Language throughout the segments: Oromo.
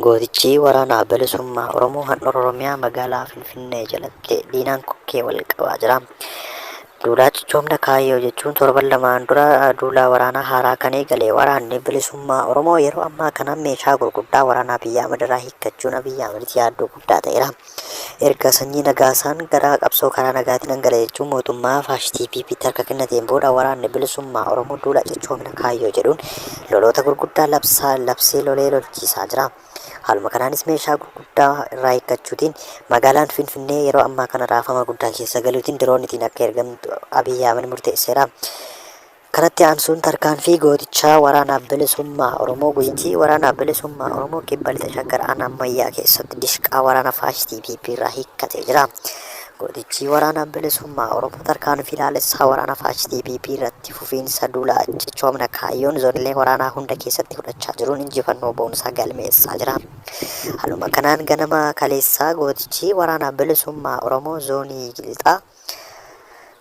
Gootichi Waraana Bilisummaa Oromoo Handhuura Oromiyaa Magaalaa Finfinnee jalatti diinaan kokkee wal qabaa jira. Duulaa cichoomna kaayyoo jechuun torban lamaan dura duulaa waraanaa haaraa kan eegale waraanni bilisummaa Oromoo yeroo ammaa kana meeshaa gurguddaa waraanaa Abiyyi Ahmad irraa hiikkachuun Abiyyi Ahmaditti yaaddoo guddaa ta'eera. Erga Sanyii Nagaasaan gara qabsoo karaa nagaatii nan gala jechuun mootummaa faashitii PPtti harka kennateen booda waraanni bilisummaa Oromoo duula cichoomina kaayyoo jedhuun loloota gurguddaa labsaa labsee lolee lolchiisaa jira. Haaluma kanaanis meeshaa gurguddaa irraa hiikkachuutiin magaalaan Finfinnee yeroo ammaa kana raafama guddaa keessa galuutiin diroonitiin akka ergamtu Abiy Ahmed murteesseera. Kanatti aansuun tarkaanfii gootichaa waraanaaf bilisummaa Oromoo Gujitii waraanaaf bilisummaa Oromoo Kibba Lixa Shaggar Aanaa Ammayyaa keessatti dishqaa waraana faashistii PP irraa hiikkatee jira. Gootichi waraanaaf bilisummaa Oromoo tarkaanfii laalessaa waraana faashistii PP irratti fufiinsa duula cichoomina kaayyoon zoonilee waraanaa hunda keessatti fudhachaa jiruun injifannoo boonsaa galmeessaa jira. Haaluma kanaan ganama kaleessaa gootichi waraanaaf bilisummaa Oromoo zoonii Lixaa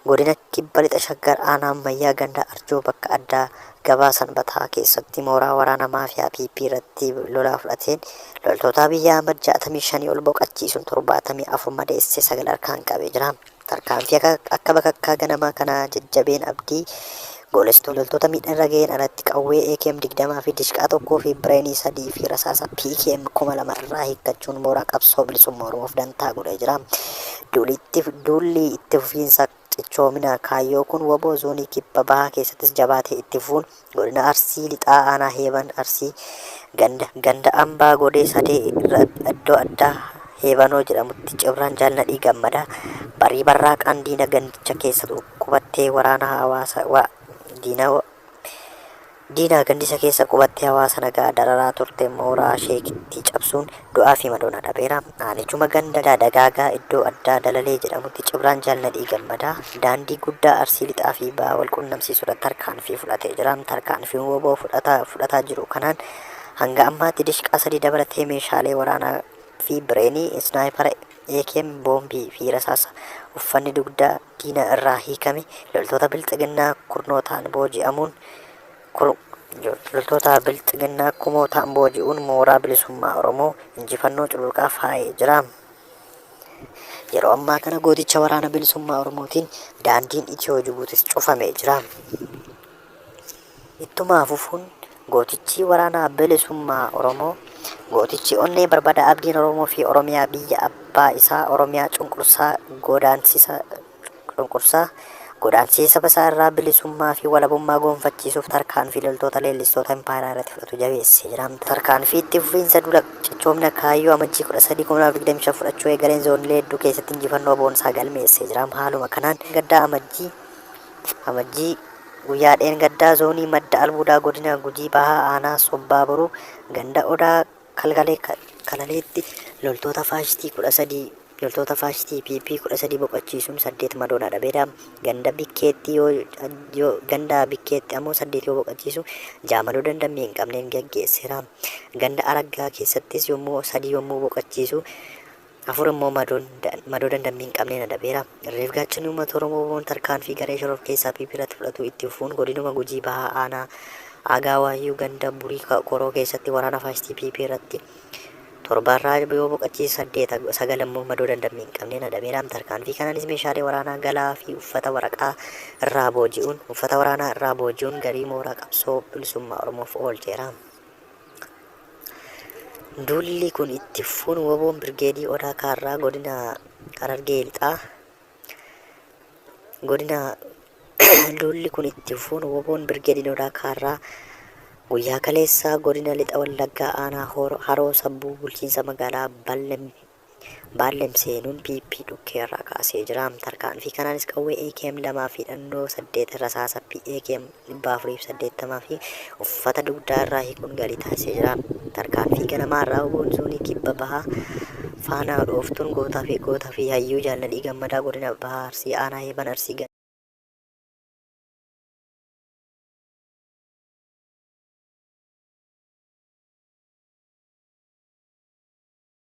Godina Kibba Lixa Shaggar Aanaa Ammayyaa Ganda Arjoo bakka addaa Gabaa Sanbataa keessatti mooraa waraana maafiyaa PP irratti lolaa fudhateen loltootaa biyya Ahmad 65 ol boqachiisuun 74 madeessee 9 harkaan qabee jira. Tarkaanfii akka bakakkaa ganamaa kanaa jajjabeen abdii Goolessitoon loltoota miidhaan irra gaheen alatti qawwee akm 20 fi dishqaa 1 fi bireenii 3 fi rasaasa PKM 2000 irraa hiikkachuun mooraa qabsoo bilisummaa Oromoof dantaa godhee jira. Duulli itti duulli itti fufiinsa cichoomina kaayyoo kun wbo zoonii kibba bahaa keessattis jabaatee itti fufuun godina Arsii lixaa aanaa Heeban Arsii ganda ganda Ambaa Godee Sadee irra iddoo addaa Heebanoo jedhamutti Cibraan Jaal Nadhii Gammadaa barii barraaqaan diina gandicha keessa qubattee waraana hawaasa wa, diina wa, diinaa gandisa keessa qubattee hawaasa nagaa dararaa turte mooraa sheekitti cabsuun du'aa fi madoon adhabeera. Aanichuma ganda Dagaagaa iddoo addaa Dalalee jedhamutti Cibraan Jaal Nadhii Gammadaa daandii guddaa Arsii Lixaa fi Bahaa wal qunnamsiisudha tarkaanfii fudhatee jira. Tarkaanfii wbo fudhataa fudhataa jiru kanaan hanga ammaatti dishqaa sadii dabalatee meeshaalee waraanaa fi bireenii, isnaayipara, AKM, boombii fi rasaasa, uffanni dugdaa, diina irraa hiikame loltoota bilxiginnaa kurnootaan booji'amuun loltoota bilxiginnaa kumootaan booji'uun mooraa bilisummaa Oromoo injifannoo cululuqaa faayee jira. Yeroo ammaa kana gooticha waraana bilisummaa Oromootiin daandiin Itiyoo Jibuutis cufamee jira. Ittuma fufuun gootichii waraana bilisummaa Oromoo, gootichi onnee barbada abdiin Oromoo fi Oromiyaa biyya abbaa isaa Oromiyaa cunqursaa godaansisa cunqursaa godaansisee saba isaa irraa bilisummaa fi walabummaa goonfachiisuuf tarkaanfii loltoota leellistoota impaayeraa irratti fudhatu jabeessee jira. Tarkaanfii itti fufiinsa duula cichoomina kaayyoo Amajjii 13/2025 fudhachuu eegaleen zoonilee hedduu keessatti injifannoo boonsaa galmeessee jira. Haaluma kanaan gaddaa Amajjii Amajjii, Guyyaa dheengaddaa zoonii madda albuudaa godina Gujii Bahaa aanaa Sobbaa Boruu ganda Odaa Kalgalee Kalaleetti loltoota faashistii 13 loltoota faashistii PP 13 boqachiisuun 8 madoon adhabeera. Ganda Bikkeetti yoo, yoo ganda Bikkeetti ammoo 8 yoo boqachiisu 6 madoo dandammii hin qabneen gaggeesseera. Ganda Araggaa keessattis yommuu 3 yommuu boqachiisu 4 immoo madoon madoo dandammii hin qabneen adabeera. Irreef gaachanni uummata Oromoo wboon tarkaanfii garee shororkeessaa PP irratti fudhatu itti fufuun godinuma Gujii Bahaa aanaa Aagaa Waayyuu ganda Burii Koroo keessatti waraana faashistii PP irratti torba irraa yoo boqachiise saddeet sagal immoo madoo dandammii hin qabneen adabeera. Tarkaanfii kanaanis meeshaalee waraanaa galaa fi uffata waraqaa irraa booji'uun uffata waraanaa irraa booji'uun garii mooraa qabsoo bilisummaa Oromoof oolcheera. Duulli kun itti fufuun woboon Birgeedii Odaa Kaarraa godina Harargee Lixaa godina duulli kun itti fufuun woboon Birgeediin Odaa Kaarraa guyyaa kaleessaa godina Lixa Wallaggaa aanaa Hor- Haroo Sabbuu bulchiinsa magaalaa Ballem Baallem seenuun PP dhukkee irraa kaasee jira. Tarkaanfii kanaanis qawwee akm 2 fi hidhannoo 8, rasaasa PAKM 480 fi uffata dugdaa irraa hiikuun galii taasisee jira. Tarkaanfii ganamaa irraa oboon zoonii kibba bahaa faanaa dhooftuun gootaa fi goota fi hayyuu jaalladhii gammadaa godina bahaa arsii aanaa heeban arsii gana.